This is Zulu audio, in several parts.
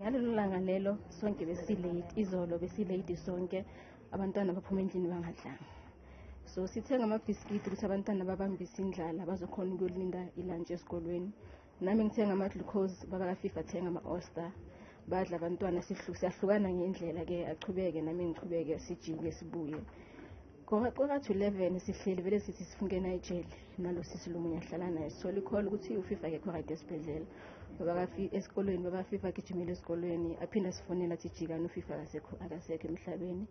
ngalelo langa lelo sonke besilate izolo besilate sonke abantwana baphuma endlini bangadlanga so sithenga amabhiskidi ukuthi abantwana babambise indlala bazokhona ukuyolinda ilantshi esikolweni nami ngithenga ama-glucose baba kafifa athenga ama-oster badla abantwana siyahlukana ngendlela-ke achubeke nami ngichubeke sijike sibuye Kwakathu-11 sihleli vele sithi sifungena ejele nalosisi lo munye ahlala naye sithola ikholo ukuthi ufifa akekho right esibhedlela esikolweni babafifa agijimile esikolweni aphinde asifonela athi jikani ufifa akasekho akasekho emhlabeni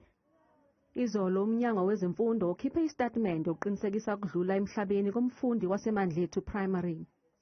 Izolo uMnyango wezeMfundo ukhiphe isitatimende uqinisekisa ukudlula emhlabeni komfundi waseMandlethu Primary.